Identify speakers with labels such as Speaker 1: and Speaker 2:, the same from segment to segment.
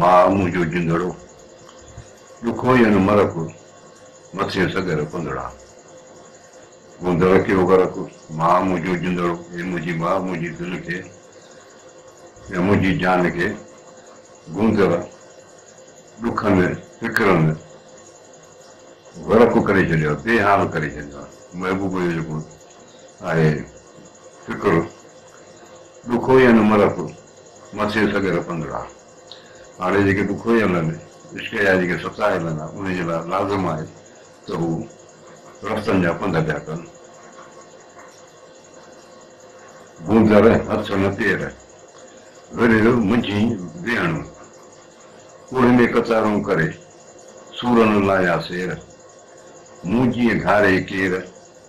Speaker 1: ماء منهنجو جندڙو، ڏکوئي ان مرڪ، مٿين سڳر پنڌڙا. مون در ڪيو غرق، ماء منهنجو جندڙو، اي منهنجي ماء منهنجي دل کي يا منهنجي جان کي گوندر، ڏکن، فڪرن غرق ڪري ڇڏيو آهي، بي حال ڪري ڇڏيو آهي. محبوب جو جيڪو آهي فڪر، ڏکوئي ان مرڪ. مٿي سڳر پنڌڙا هاڙهي جيڪي تون کوهي هلن، عشق جا جيڪي ستا هلن ها، انهي جي لاء لازم آهي ته هو رفتن جا پنڌ پيا ڪن. گوندر هٿ نه پير، ورهيه منجهين ويهڻو، ڪوهي ۾ قطارون ڪري، سور نه لايا سير، مون جيئن گهاري ڪير،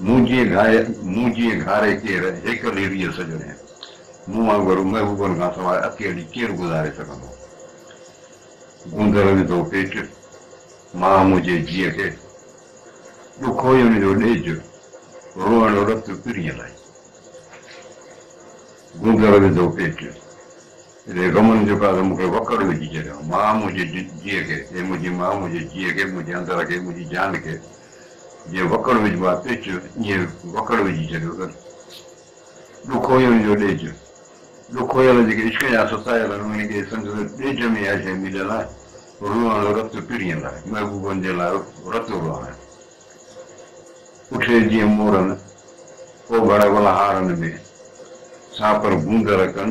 Speaker 1: مون جيئن گهاري، مون جيئن گهاري ڪير، هيڪل هي ريء سڄڻي. مون وانگر محبوبن کان سواء اڪيلي ڪير گذاري سگهندو. گوندر وڌو پيٽ، ماء منهنجي جيء کي. ڏک هئي ان جو ڏيج، روئڻ رت پرينء لاء. گوندر وڌو پيٽ. اهڙي غم ۾ جيڪا ته مون کي وڪڙ وجهي ڇڏيو. ماء منهنجي جيء کي، اي منهنجي ماء منهنجي جيء کي، منهنجي اندر کي، منهنجي جان کي جيئن وڪڙ وجهبو آهي پچ، ائين وڪڙ وجهي ڇڏيو اٿس. ڏک هيڻ جو ڏيج، ڏک هيڻ جيڪي عشق جا ستايا اٿن، انهن کي سندس ڏيج ۾ اها شيء مليل آهي، روئڻ، رت پرين لاء، محبوبن جي لاء رت روئڻ. اٺي جيئن مورن، اوڀڙ ولهاڙن ۾، سانپر گوندر ڪن،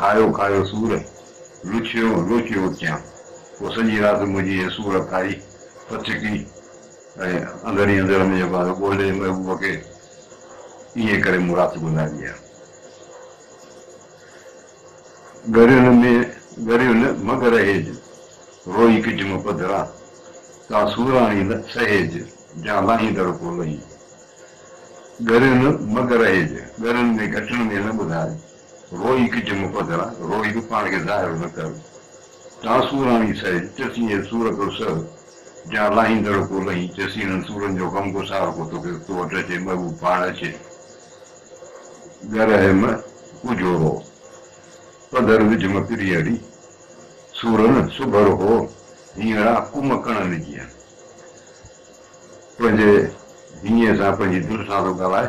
Speaker 1: کايو کايو سور، لوچيو لوچيو اچيان. پوء سڄي رات منهنجي هيء سور کائي، ڦٿڪي ۽ اندر ئي اندر منهنجو ٻارو ڳولي محبوب کي ائين ڪري مون رات گذاري آهي. ڳريون نه ڳريون نه مڳ رهيج، روئي ڪجم پڌران، تان سوراڻي نه سهيج، جان لاهين در ڪو لهين. ڳريون نه مڳ رهيج، ڳرين ۾ گهٽڻ ۾ نه ٻڌاج. روئي ڪج مون پڌرا، روئي به پاڻ کي ظاهر نه ڪر. تان سوراڻي سهي، چسين اي سور ڪو سهه. جان لاهيندڙ ڪو لهين، چسين انهن سورن جو غمگسار ڪو توکي تو وٽ اچي، محبوب پاڻ اچي. ڳرهه م ڪجهو رو، پڌر وجهه م پري اڙي. سورن سڀر هو، هينئڙا ڪم ڪڻن جيئن. پنهنجي هينئين سان پنهنجي دل سان ٿو ڳالهائي.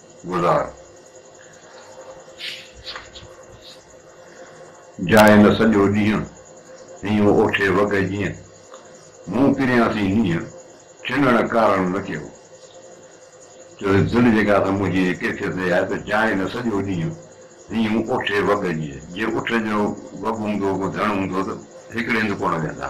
Speaker 1: گذار جاء نه سڄو ڏينهن، هينئون اوٺي وڳهه جيئن، مون پريان سين نينهن، ڇنڻ ڪارڻ نه ڪيو. چوي دل جيڪا سا منهنجي هيء ڪيفيت هي آهي ته جاء نه سڄو ڏينهن، هينئون اوٺي وڳهه جيئن، جي اٺ جو وڳ هوندو ڪو ڌڻ هوندو ته هڪڙي هنڌ ڪونه ويهندا.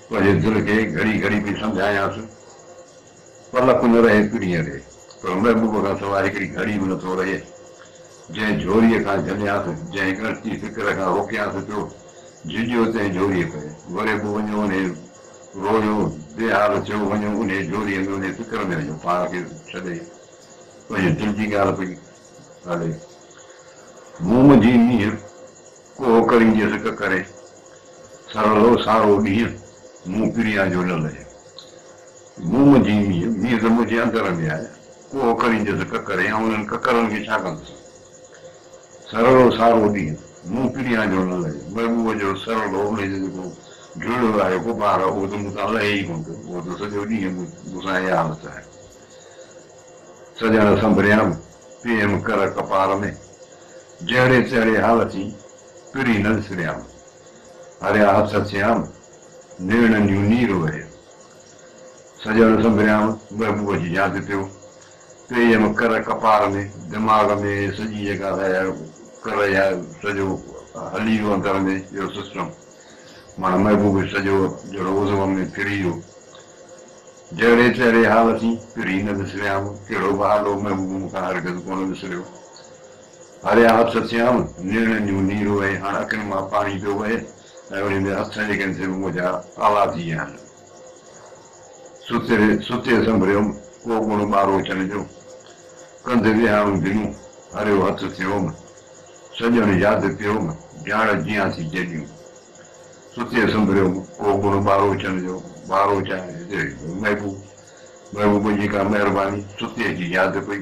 Speaker 1: پنهنجي دل کي گهڙي گهڙي پئي سمجهايانس، پل ڪو نه رهي پرينء ڏي، پر محبوب کان سواء هڪڙي گهڙي به نٿو رهي. جنهن جهوريء کان جهليانس، جنهن ڳڻتي فڪر کان روڪيانس پيو، جهڄيو تنهن جهوريء پئي. وري به وڃيو انهيء رويو، بي حال ٿيو، وڃيو انهيء جهوريء ۾ انهيء فڪر ۾ وڃيو پاڻ کي ڇڏي، پنهنجي دل جي ڳالهه پئي ڳالهي، مون منجهي مينهن. ڪوهه ڪري جي سڪ ڪري، سرهلو سارو ڏينهن، مون پريان جو لل جو. مون منجهي مينهن، مينهن ته منهنجي اندر ۾ آهي، ڪوهه ڪري جي سڪ ڪري، آئون انهن ڪڪرن کي ڇا ڪندس؟ سرهلو سارو ڏينهن، مون پريان جو لل جو، محبوب جو سرهلو، انهيء جو جيڪو جهلڙو آهي، غبار، اهو ته مون تان لهي ئي ڪونه ٿو، اهو ته سڄو ڏينهن مون سان اها حالت آهي. سڄڻ سنڀريام، پيئم ڪر ڪپار ۾. جهڙي تهڙي حالت ئي پرين نه وسريام. هريا هٿ هٿيام، نيڻن جون نير اوريم. سڄڻ سنڀريام، محبوب جي جان تي پيو پيئيم ڪر ڪپار ۾، دماغ ۾ سڄي جيڪا سا اها ڪر يا سڄو هلي ويو اندر ۾ اهو سسٽم، مانا محبوب سڄو جهڙو عضو ۾ ڦري ويو. جهڙي تهڙي حالت ئي پرين نه وسريام، ڪهڙو به حال هو محبوب مون کان هرگز ڪونه وسريو. هريا هٿ ٿيائون، نيڻن جون نيرون ۽ هاڻ اکين مان پاڻي پيو وهي ۽ انهن جي هٿن جي ڪن تي به منهنجا آلا ٿي ويا آهن. ستي سنڀريم ڪو گڻ ٻارو چڻ جو، ڪنڌ ويهاڻو دنون، هريو هٿ ٿيوم، سڄڻ ياد پيوم، جاڻ جيان ٿي جيڏيون. ستي سنڀريم ڪو گڻ ٻارو چڻ جو، ٻارو چڻ جو محبوب، محبوب جي ڪا مهرباني، ستي جي ياد پئي.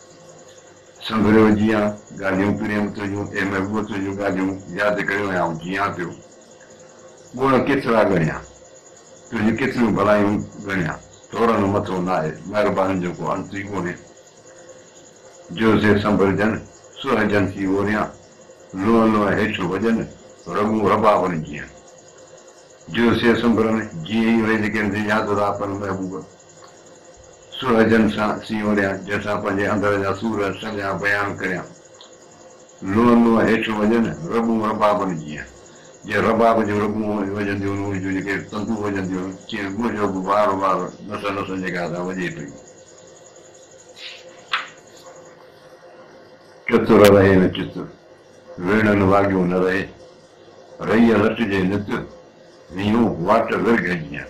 Speaker 1: سنڀريو جيئان ڳالهيون پريم تنهنجون اي محبوب تنهنجون ڳالهيون ياد ڪريون آئون جيئان پيو ڳڻ ڪيترا ڳڻيان تنهنجون ڪيتريون ڀلايون ڳڻيان ٿورن مٿو ناهي مهربانين جو ڪو انت ئي ڪونهي جو سي سنڀرجن سهجن ٿي اوريان لونء لونء هيٺ وڄن رڳون ربابن جيئن جو سي سنڀرن جيئن ئي رهجي ڪين سي ياد رابن محبوب سورجن سان سينوريان، جنهن سان پنهنجي اندر جا سور سڄا بيان ڪريان. لونء لونء هيٺ وڄن، رٻون ربابن جيان. جيئن رباب جون رٻون وڄنديون هن، ان جون جيڪي تندون وڄنديون هن، تيئن منهنجو به وار وار نسن نسن جي ڳاهه سان وڄي پيو. چتر رهي نه چتر، ويڙهن واڳيون نه رهي، رئي لٽجي نت، هيون واٽ ورگهه جيان.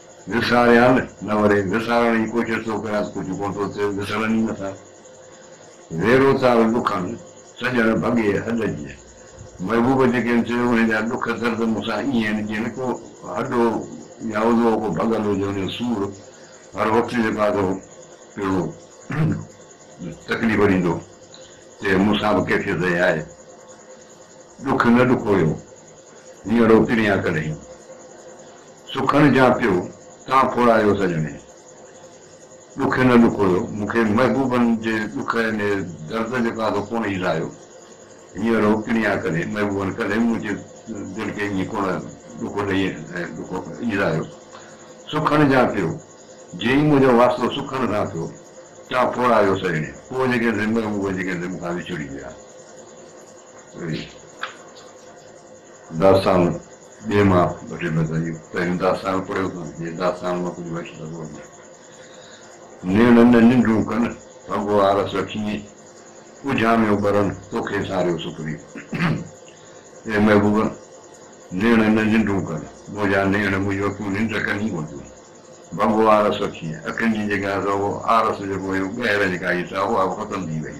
Speaker 1: وساريان نه وري وسارڻ جي ڪوشش ٿو ڪريان ته ڪجهه ڪونه ٿو ٿئي، وسرن ئي نٿا. ويرو تار ڏکن، سڄڻ ڀڳي هڏ جيئن. محبوب جي ڪين چيو، انهن جا ڏک درد مون سان ائين آهن جيئن نه ڪو هڏو يا عضوو ڪو ڀڳل هجي ان جو سور هر وقت جيڪو آهي سو پڻو تڪليف ڏيندو تي مون سان به ڪيفيت ائين آهي. ڏک نه ڏکويو هينئڙو پريان ڪڏهين. سکڻ جا پيو تان کوڙايو سڄڻي. ڏک نه ڏکويو مون کي محبوبن جي ڏک ۽ درد جو ڪا سو ڪونه ئي لايو. هينئر هو پڻيا ڪڏهن محبوبن ڪڏهن منهنجي دل کي ائين ڪونه ڏک ڏئي ۽ ڏک ايلايو. سکڻ جا پيو جي ئي منهنجو واسطو سکڻ سان ٿيو تان کوڙايو سڄڻي. پوء جيڪي سي محبوب جيڪي سي مون کان وڇڙي ويا. داستان ٻئي مان وٺي ٻڌايو. پهريون داستان پڙهيو ڪانه جي داستان مان ڪجهه وٺي سگهو اڳيان نيڻن نه ننڊون ڪن ڀنگو آرس اٺينء اجهاميو ٻرن توکي ساريو سپري اي محبوب نيڻن نه ننڊون ڪن منهنجا نيڻ منهنجون اکيون ننڊ ڪن ئي ڪون ٿيون ڀنگو آرس اٺينء اکين جي جيڪا سا اهو آرس جيڪو هيو ٻهر جيڪا هئي سا اها به ختم ٿي وئي.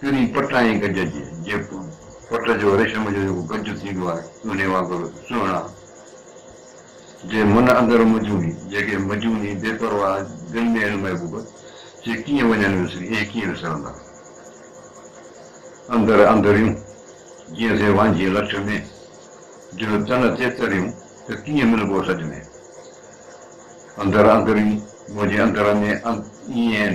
Speaker 1: چري پٽ ۽ گج جي جيڪون، پٽ جو ريشم جو جيڪو گج ٿيندو آهي، انهي وانگر سهڻا، جي من اندر مجوني، جيڪي مجوني، بي پرواهه، دل ۾ هن محبوب جي ڪيئن وڃن وسري، اهي ڪيئن وسرندا؟ اندر اندريون، جيئن سي وانجهي لٺ ۾، جيئن تن تي تريون، ته ڪيئن ملبو سڏ ۾؟ اندر اندريون، منهنجي اندر ۾ ايئن آهن،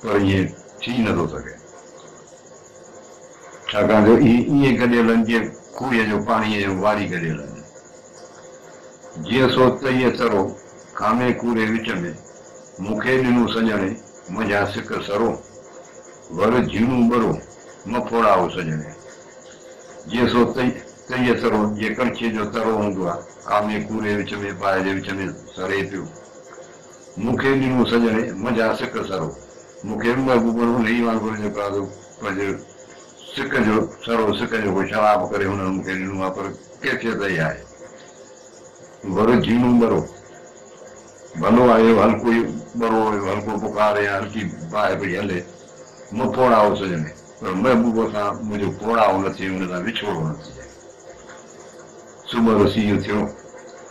Speaker 1: پر ائين ٿي نه ٿو سگهي، ڇاڪاڻ جو اهي ائين گڏيلن جيئن کوهيء جو پاڻي ۽ واري گڏيل آهن. جيئن سو تئيء ترو، کامي ڪوڙي وچ ۾، مون کي ڏنو سڄڻي، منجهان سڪ سرو، ور جهيڻو ٻرو، م ڦوڙا او سڄڻي. جيئن سو تئي، تئيء ترو، جيئن ڪڻڇيء جو ترو هوندو آهي، کامي ڪوڙي وچ ۾، باهه جي وچ ۾ سري پيو. مون کي ڏنو سڄڻي، منجهان سڪ سرو. مون کي به محبوبن ان ئي وانگر اڃ پرازو پنهنج سڪ جو سرو، سڪ جو ڪو شراب ڪري هنن مون کي ڏنو آهي، پر ڪيفيت اهي آهي. ور جهيڻو ٻرو. ڀلو آهي اهو هلڪو ئي ٻرو، اهو هلڪو بخار يا هلڪي باهه پئي هلي. مون پوڙهائو سڄڻي، پر محبوب سان منهنجو پوڙهائو نه ٿئي، ان سان وڇوڙو نه ٿئي. صبح رسي اٿيو.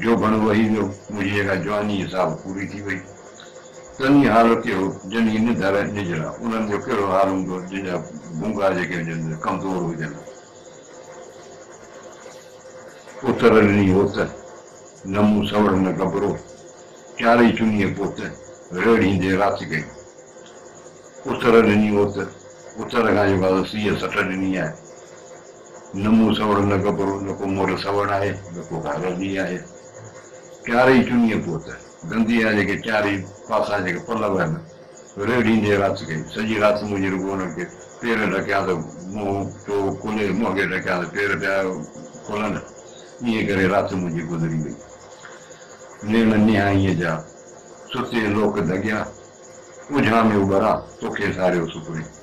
Speaker 1: جو گهڻو وهي ويو، منهنجي جيڪا جواني جي ساڀ پوري ٿي وئي. تنهي حال تي هو، جن جي نڌ الائي نجڙا، انهن جو ڪهڙو حال هوندو، جن جا ڀونگا جيڪي هجن سي ڪمزور هجن ها. اتر ڏني هوت، نه مون سوڙ نه گبرو، چارئي چنيء پوت، ريڙهيندي رات ڪئي. اتر ڏني هوت، اتر کان جيڪا سيء سٽ ڏني آهي. نه مون سوڙ نه ڪپرو، نه ڪو مور سوڙ آهي، نه ڪو گهاگهر ٻي آهي. چارئي چنيء پوت، گنديء جا جيڪي چارئي پاسا جيڪي پلو آهن، ريڙهيندي رات ڪئي. سڄي رات مون جي رڳو انهن کي پير ڍڪيا ته منهن ٿيو کلي، منهنگي ڍڪيا ته پير پيا کلن. ائين ڪري رات منهنجي گذري وئي. نيڻ نهائيء جا ستي لوڪ ڌڳيا، اجهاميو ٻرا، توکي ساريو سپرين.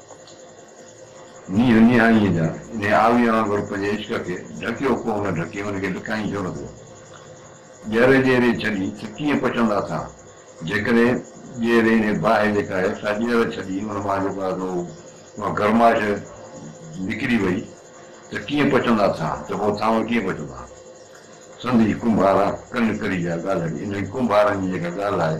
Speaker 1: نيهه نهائيء جا نهاويء وانگر پنهنجي عشق کي ڍڪيو ڪو نه ڍڪي ان کي لڪائين ڇو نه ٿو. ڄيري ڄيري ڇڏي ته ڪيئن پڇندا ٿا. جيڪڏهن ڄيري ۽ باهه جيڪا آهي سا ڄير ڇڏي ان مان جيڪو آهي سو اها گرمائش نڪري وئي ته ڪيئن پڇندا ٿا ته پوء ٿانو ڪيئن پڇندا. سنڌي ڪنڀارا ڪن ڪري جا ڳالهڙي انهن ڪنڀارن جي جيڪا ڳالهه آهي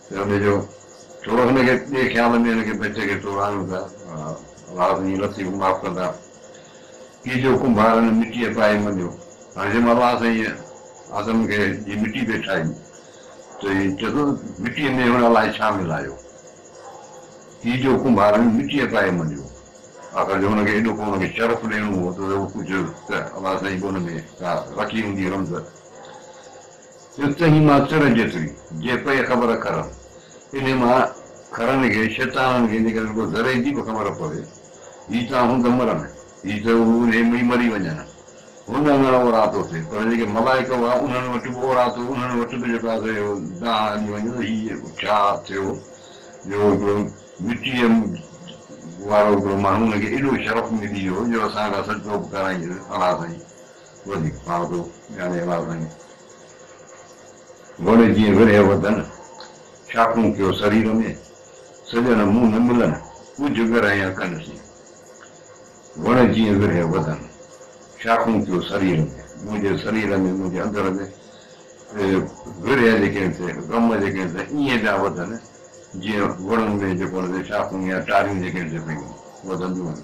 Speaker 1: سرهندي جو ٽوڙو هن کي ٻئي خيال ۾ هن کي بچ کي ٽوڙ آڻيون ٿا واهه تنهنجي لطيف معاف ڪندا ڪي جو ڪنڀارن مٽيء پائي مڃيو هاڻي جي مال واهه سائين آدم کي جي مٽي پئي ٺاهي ته هي چئي ٿو مٽيء ۾ هن الائي ڇا ملايو ڪي جو ڪنڀارن مٽيء پائي مڃيو آخر جو هن کي ايڏو ڪو ان کي شرف ڏيڻو هو ته هو ڪجهه ته الائي سائين به ان ۾ ڪا رکي هوندي رمز اتي ئي مان تر جيتري جي پئي خبر کرن، انهي مان کرن کي، شيطانن کي، جيڪڏهن رڳو ذري جي به خبر پوي، هي تان هوند مرن، هي ته هو انهي ۾ ئي مري وڃن. هن اڱڻ اوراتو تي، پر جيڪي ملائڪ هئا، انهن وٽ به اوراتو، انهن وٽ به جيڪو آسري هو، ڏانهن هلي وڃن ته هي ڇا ٿيو، جو هڪڙو مٽيء وارو هڪڙو ماڻهو هن کي ايڏو شرف ملي ويو، جو اسان کان سڏ ٽوپ ڪرائينس، اڙا سائين! وڌي پاڙدو يعني الاضائين وڻ جيئن ورهيه وڌن، شاخون ڪيو سرير ۾، سڄڻ منهن نه ملن، ڳجهه ڳرهين اکن سين. وڻ جيئن ورهيه وڌن، شاخون ڪيو سرير ۾، منهنجي سرير ۾ منهنجي اندر ۾ ورهيه جيڪي آهن سي غم جيڪي آهن سي ائين پيا وڌن جيئن وڻن ۾ جيڪو آهن سي شاخون يا ٽاريون جيڪي آهن سي پيون وڌنديون آهن.